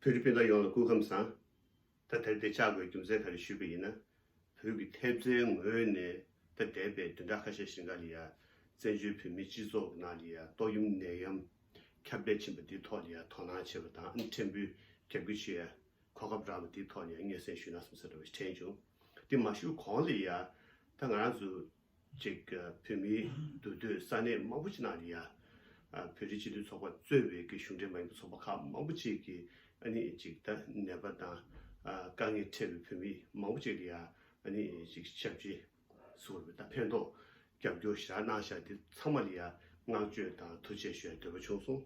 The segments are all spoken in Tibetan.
བོད་ཀྱི་དཔེ་ལྟ་ཡོངས་ལ་སྐུ་ཁམས་བཟང། ད་དེར་བདེ་ཆགས་སྒོས་རྒྱུ་མཚན་ག་རེ་ཞུས་པ་ཡིན་ན། བོད་ཀྱི་ཐེབས་རྩའི་ངོས་ནས་ད་འདས་པའི་བདུན་ཕྲག་ཁ་ཤས་ཤིང་ཀ་ལི་ཡ་བཙན་བྱོལ་བོད་མིའི་སྤྱི་ཚོགས་ཀྱི་ནང་ལི་ཡ་ཏོག་ཡུམ་ནད་ཡམས་ཁྱབ་བརྡལ་ཕྱིན་པ་འདི་ཐོག་ལི་ཡ་དོ་སྣང་བྱེད་པ་དང་ཨ་ནེ་ཕྲན་བུའི་རྒྱབ་སྐྱོར་བྱེད་ཡ་གོ་སྐབས་རག་ལ་འདི་ཐོག་ལི་ཡ་སྙན་སེང་ཞུས་ན་སོང་ཟེར་བ་དྲན་བྱུང། དེ་མ་ཞུ་གོང་ལི་ཡ་ད་ང་རང་ཚོ། གཅིག་བོད་མིའི་འདུ་སྡོད་ས་གནས་མང་པོ་ཅི་ནང་རེད་ཡ། བོད་རིགས་སྤྱི་མཐུན་ཚོགས་པ་གཙོས་བའི་གི་གཞུང་འབྲེལ་མ་ཡིན་པའི་ཚོགས་པ་ཁག་མང་པོ་ཅིག་གི་ཨ་ནི་ཅིག་ད་ནད་པ་དང་དཀའ་ངལ་འཕྲད་པའི་བོད་མི་མང་པོ་ཅིག་རེད་ཡ་ཨ་ནི་ཅིག་ཞབས་རྗེ་སོགས་རེད་ད་ཕན་ཐོགས་རྒྱབ་སྐྱོར་བཞག་གནང་བཞག་འདི་ཚང་མ་རེད་ཡ་བསྔགས་བརྗོད་དང་ཐུགས་ཆེ་ཞོལ་འདོད་པ་ཆུང་སོང།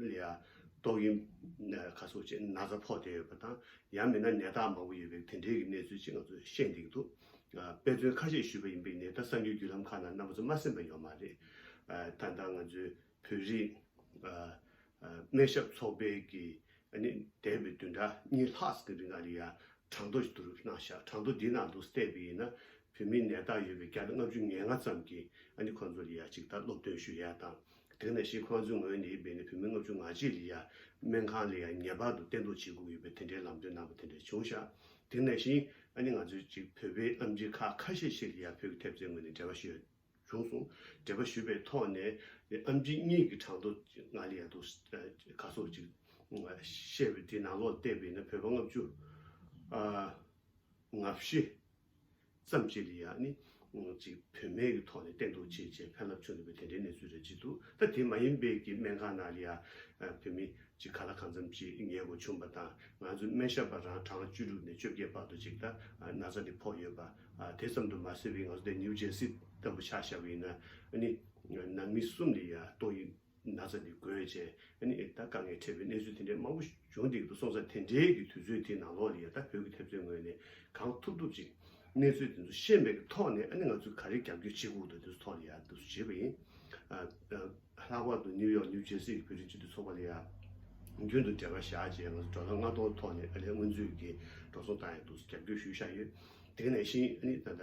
ལ་ཏོག་དབྱིབས་ཁ་གསོ་བྱེད་ན་ཚ་ཕོག་བསྡད་ཡོད་པ་དང་ཡང་མིན་ན་ནད་རྟགས་མང་པོ་ཡོད་པའི་དེ་འབྲེལ་གྱི་གནས་ཚུལ་ཅིག་ང་ཚོར་ཤེས་འདུག་དཔེ་མཚོན་ཁ་ཤས་ཞུས་པ་ཡིན་པས་ནད་བརྟག་གསར་འགྱུར་བརྒྱུད་ལམ་ཁག་ནང་གནམ་མཚོ་མ་ཟིན་པ་ཡོད་མ་རེད། ད་ལྟ་ང་ཚོའི་བོད་རིགས་སྨན་ཞབས་ཚོགས་པའི་གི་ནི་འདས་པའི་བདུན་ཕྲག་གཉིས་ལྷག་གི་རིང་ང་རི་ཡར་གྲངས་ཐོ་ཞིག་བསྡུ་རུབ་གནང་ཤག་གྲངས་ཐོ་འདིའི་ནང་དུ་བལྟས་པ་ཡིན་ན་བོད་མིའི་ནད་རྟགས་ཡོད་པའི་བརྒྱ་དང་ལྔ་བཅུ་ཉེར་ལྔ་ཙམ་གྱི་ནི་ཁོང་ཚོར་རི་ཡར་ཅིག་ལྟར་སློབ་སྟོན་ཞུ་ཡས་དང་དེང་ནས་ཤིག་ཁོ་ང་ཚོའི་ངོས་ནས་ཡིན་པའི་ནི་བོད་མི་ལྔ་བཅུ་ང་གཅིག་ལ་ཡང་སྨན་ཁང་ལ་ཡང་ངེས་པར་དུ་བསྟེན་གཏོང་བྱེད་དགོས་ཀྱི་ཡོད་པའི་དེ་འདྲའི་ལམ་སྟོན་གནང་བ་དེ་འདྲ་བྱུང་ཤག་དེང་ནས་ཤིང་ཨ་ནི་ང་ཚོའི་ཅིག་བོད་པའི་ཨམ་ཆིག་ཁག་ཁ་ཤས་ཤིག་ལ་ཡང་བོད་ཀྱི་ཐེབས་རྩའི་ངོས་ནས་འབྲེལ་བ་ཞུས་ཡོད་བྱུང་སོང་འབྲེལ་བ་ཞུས་པའི་ཐོག་ནས་ནི་ཨམ་ཆིག་གཉིས་ཀྱི་གྲངས་ཐོ་ང་ལ་ཡང་འདུག་ག་ཚོགས་ཅིག་བཤད་པའི་དེའི་ནང་ལོག་བལྟས་པའི་ནི་བོད་པ་ལྔ་བཅུ། ང་བཞི། ཙམ་ཅི་ལི་ཡཱ་ནི། ཅིག་བུད་མེད་ཀྱི་ཐོག་ནས་བསྟེན་འདུག་ཅེས་བྱས་ཕན་རླབས་ཆུང་འདུག་པས་དེ་འདྲའི་གནས་ཚུལ་རེ་བརྗིད་འདུག་ད་དེ་མ་ཡིན་པའི་ཀྱི་སྨན་ཁང་ན་ལི་ཡཱ་བུད་མེད་ཅིག་ག་ལ་གང་འཚམ་ཅིག་ཉལ་དགོས་བྱུང་བ་དང་ང་ཚོའི་སྨན་ཞབས་པ་རང་གྲངས་བཅུ་དྲུག་ནས་བཅོ་བརྒྱད་བར་དུ་ཅིག་ད་ན་ཚ་དེ་ཕོག་ཡོད་པ་དེ་ཙམ་དུ་མ་ཟད་པའི་ང་ཚོ་དེ་ནིའུ་ཇེར་སི་ལྟ་བུ་ཆགས་བཞག་པ་ཡིན་ན་ནི། ནང་མི་གསུམ་ལི་ཡཱ་ཏོ་ཡིན། ན་ཚ་འདི་དགོས་ཅེས་ཨ་ནི་ཨི་ད་དཀའ་ངལ་འཕྲད་པའི་གནས་ཚུལ་དེ་འདྲའི་མང་པོ་བྱུང་འདུག་གདུགས་སོང་ཚ་དེ་འདྲའི་གི་དུས་ཚོད་དེའི་ནང་ལོག་ལི་ཡ་ད་བོད་ཀྱི་ཐེབས་རྩོད་ངོས་ནས་གང་ཐུབ་ཐུབ་ཅིག་གནས་ཚུལ་དེ་ཚོ་ཤེས་མེད་ཀྱི་ཐོག་ནས་ཨ་ནི་ང་ཚོས་ག་རེ་རྒྱབ་སྐྱོར་བྱེད་དགོས་འདུག་དེ་ཚོ་ཐོག་ལི་ཡ་ད་བྱེད་པ་ཡིན། ལྷག་པར་དུ་ནིའུ་ཡོག་ནིའུ་ཇེར་སི་གྱི་བོད་རིགས་སྤྱི་འཐུས་ཚོགས་པ་ལི་ཡ་རྒྱུན་དུ་འབྲེལ་བ་བཞག་རྗེས་ང་ཚོ་འགྲོ་ལ་ལྔ་སྟོང་ཐོག་ནས་ཨ་ལས་སྔོན་ཚུད་ཀྱི་འགྲོ་སོང་བཏང་ཡོད་འདུག་རྒྱབ་སྐྱོར་ཞུས་བཞག་ཡོད་དེ་ནས་བཞིན་ཨ་ནི་ད་ད།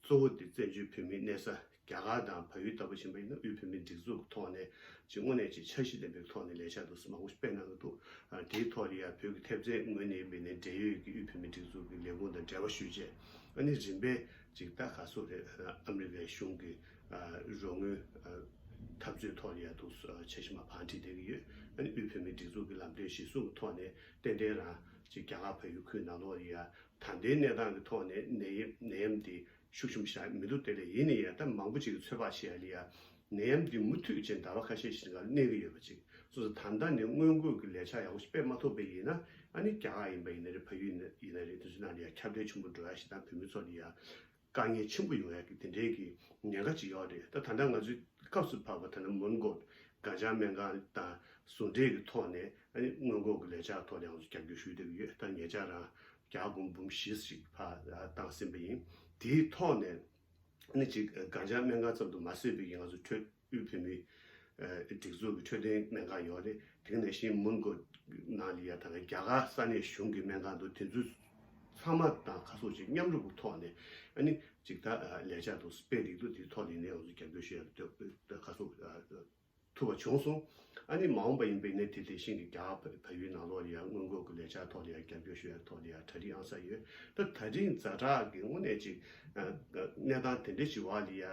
གཙོ་བོ་དེ་བཙན་བྱོལ་བོད་མིའི་གནས་ས་རྒྱ་གར་དང་བལ་ཡུལ་ལྟ་བུ་ཞིག་མ་ཡིན་ན་དབུས་བོད་མིའི་སྒྲིག་འཛུགས་ཀྱི་ཐོག་ནས་ཀྱི་དངོས་གནས་ཀྱི་འཆར་གཞི་ལྡན་པའི་ཐོག་ནས་ལས་འཆར་འདུག་ས་མང་པོ་ཞིག་སྤེལ་གནང་གི་འདུག་དེའི་ཐོག་ནས་ཡང་བོད་ཀྱི་ཐེབས་རྩའི་ངོས་ནས་མིན་ནས་འབྲེལ་ཡོད་ཀྱི་དབུས་བོད་མིའི་སྒྲིག་འཛུགས་ཀྱི་ལས་ཁུངས་དང་འབྲེལ་བ་ཞུས་རྗེས་ཨ་ནི་རིམ་པས་ཅིག་ད་ག་སོ་རེད་ཨ་མི་རི་ཀའི་གཞུང་གི་རོགས་དངུལ་འཐབ་རྩོད་ཐོག་ནས་ཡང་འདུག་འཆར་གཞི་མ་བང་བྲིས་བསྡད་ཀྱི་ཡོད་ཨ་ནི་དབུས་བོད་མིའི་སྒྲིག་འཛུགས་ཀྱི་ལམ་སྟོན་གཞིར་བཟུང་གི་ཐོག་ནས་ཏན་ཏན་རང་ཅིག་རྒྱ་གར་བལ་ཡུལ་ཁུལ་ནང་ལོགས་ནས་ཡང་ད་ལྟའི་གནས་སྟངས་ཀྱི་ཐོག་ནས་ནད་ཡམས་ནད་ཡམས་འདི་ཤུགས་ཆེན་པོ་ཤར་མི་འདུག་དེ་ལས་ཡིན་ནི་ཡལ་ག་མང་པོ་ཅིག་གི་ཚོད་དཔག་བྱེད་ཡ་ལི་ཡ། ནད་ཡམས་འདི་མུ་མཐུད་ཅིང་ཟླ་བ་ཁ་ཤས་ཤིག་འགའ་ལ་གནས་ཀྱི་ཡོད་པ་ཅིག་གསུངས་སོང་ད་ལྟ་ནི་སྔོན་འགོད་ཀྱི་ལས་འཆར་ཡག་པོ་ཞིག་སྤེལ་མ་ཐུབ་པས་ཡིན་ན་ཨ་ནི་རྒྱ་གར་ཡིན་པ་ཡིན་ན་རེད་ཕ་ཡུལ་ཡིན་ན་རེད་དེ་ཚོའི་ནང་ལ་ཡང་ཁྱབ་བརྡལ་ཆེན་པོ་འགྲོ་ཡ་ཞིག་དང་བོད་མི་ཚོ་ལ་ཡང་དཀའ་ངལ་ཆེན་པོ་ཡོང་ཡག་གི་དེ་འདྲའི་གི་ཉེན་ཁ་ཅིག་ཡོག་རེད་ད་ད་ང་ཚོའི་སྐབས་སུ་བབ་པ་ད་ནི་མོན་གྷོ་གངས་ལྗང་སྨན་ཁང་དང་ཟུང་འབྲེལ་གི་ཐོག་ནས་སྔོན་འགོག་གི་ལས་འཆར་ཐོག་ནས་ང་ཚོ་རྒྱབ་སྐྱོར་ཞུས་བསྡད་ཀྱི་ཡོད་ད་ངེད་ཅག་རང་གྱ་དགོངས་འབུམ་བཞི་ཞིག་ཕ་བཏང་ཟིན་པ་ཡིན་དེའི་ཐོག་ནས་ནི་གཅིག་གངས་ལྗང་སྨན་ཁང་ཙམ་དུ་མ་བཟོས་པའི་གི་ང་ཚོ་འཕྲོད། དབུས་བོད་མིའི་སྒྲིག་འཛུགས་ཀྱི་འཕྲོད་བསྟེན་སྨན་ཁང་ཡོད་རེད། དེང་ནས་བཞིན་མོན་གྷོ་ནང་ལི་ཡ་དང་རྒྱ་གར་ས་གནས་གཞུང་གི་སྨན་ཁང་དུ་དེ་ཚོའི་ཚང་མ་དང་ཁ་གསོ་བྱེད་མཉམ་རུབ་ཀྱི་ཐོག་ནས་ནི་ཅིག་ལྟ་ལས་བྱ་འདུག་སྤེལ་འདུག་དེའི་ཐོག་ནས་ནི་ཡང་རྒྱབ་སྐྱོར་ཞུ་ཡག་ཁ་གསོ་ཐུབ་པ་བྱུང་སོང། ནི་མ་འོངས་པ་ཡིན་པས་ནི་དེ་དེ་བཞིན་གྱི་རྒྱ་གར་ཕ་ཡུལ་ནང་ལོགས་ལི་ཡ་སྔོན་འགོག་གི་ལས་བྱ་ཐོག་ལི་ཡ་རྒྱབ་སྐྱོར་ཞུ་ཡག་ཐོག་ལི་ཡ་གྲ་སྒྲིག་ཨང་གསར་ཡོད། ད་ད་རིང་རྫ་དྲག་གི་དངོས་གནས་ཅིག་གནས་སྟངས་དེ་འདྲ་ཅིག་བ་ལི་ཡ་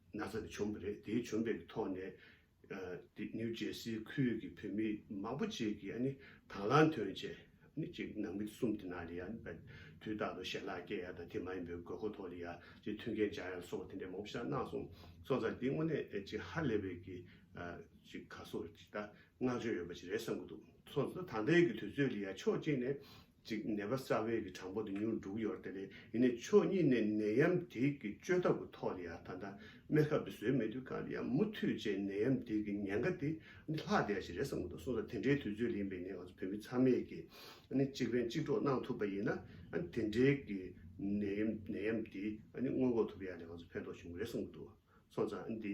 ན་ཚ་དེ་བྱུང་བ་རེད། དེའི་བྱུང་འབྲས་ཀྱི་ཐོག་ནས། དེ་ནིའུ་ཇེར་སི་ཁུལ་གྱི་བོད་མི་མང་པོ་ཅིག་གིས་ཨ་ནི་དང་བླངས་ཐོན་ཆེ། ནི་ཅིག་ནང་མི་དེ་གསུམ་དེ་ནང་ལ་ཡ་ནི་པའི་དུས་རྟག་ཏུ་ཞལ་ལག་བཀལ་ཡ་དང་དེ་མ་ཡིན་པའི་དགོས་མཁོ་ཐོག་ལ་ཡ་ཅིག་མཐུན་རྐྱེན་སྦྱར་ཡ་ལ་སོགས་པ་དེ་འདྲའི་མང་པོ་ཞིག་ལ་གནང་སོང་སོང་ཙང་དེ་དངོས་གནས་ཅིག་ཧ་ལས་པའི་གི་ཅིག་ཁ་སོ་ཅིག་ད་བསྔགས་བརྗོད་ཡོད་པ་ཅིག་རེད་བསམ་གྱི་འདུག་སོང་ཙང་ད་ལྟའི་གི་དུས་ཚོད་ལ་ཡ་ཕྱོགས་གཅིག་ནས་ཅིག་ནད་པ་རྩ་བའི་གི་གྲངས་འབོར་དུ་མྱུར་འགྲོ་གི་ཡོད་ར་དེ་རེད་ཡིན་ནའི་ཕྱོགས་གཉིས་ནས་ནད་ཡམ་དེ་གི་བཅོས་ཐབས་གི་ཐོག་ལ་ཡང་ད་ལྟ་སྨན་ཁབ་དེ་བཟོས་མེད་དུས་གང་ཡང་མུ་མཐུད་བྱས་ནད་ཡམ་དེ་གི་ཉེན་ཁ་དེ་ནི་ལྷག་བསྡད་ཞིག་རེད་བསམ་གི་འདུག་གསུངས་ས་དེ་འདྲའི་དུས་ཚོད་ལ་ཡིན་པའི་ནི་ང་ཚོ་བོད་མི་ཚང་མས་གི་ནི་གཅིག་ཕན་གཅིག་གྲོགས་གནང་ཐུབ་པ་ཡིན་ན་ནི་དེ་འདྲའི་གི་ནད་ཡམ་དེ་ནི་སྔོན་འགོག་ཐུབ་པ་ཡང་ནི་ང་ཚོ་ཕན་ཐོགས་བྱུང་གི་རེད་བསམ་གི་འདུག་སོང་ཙང་ནི་དེ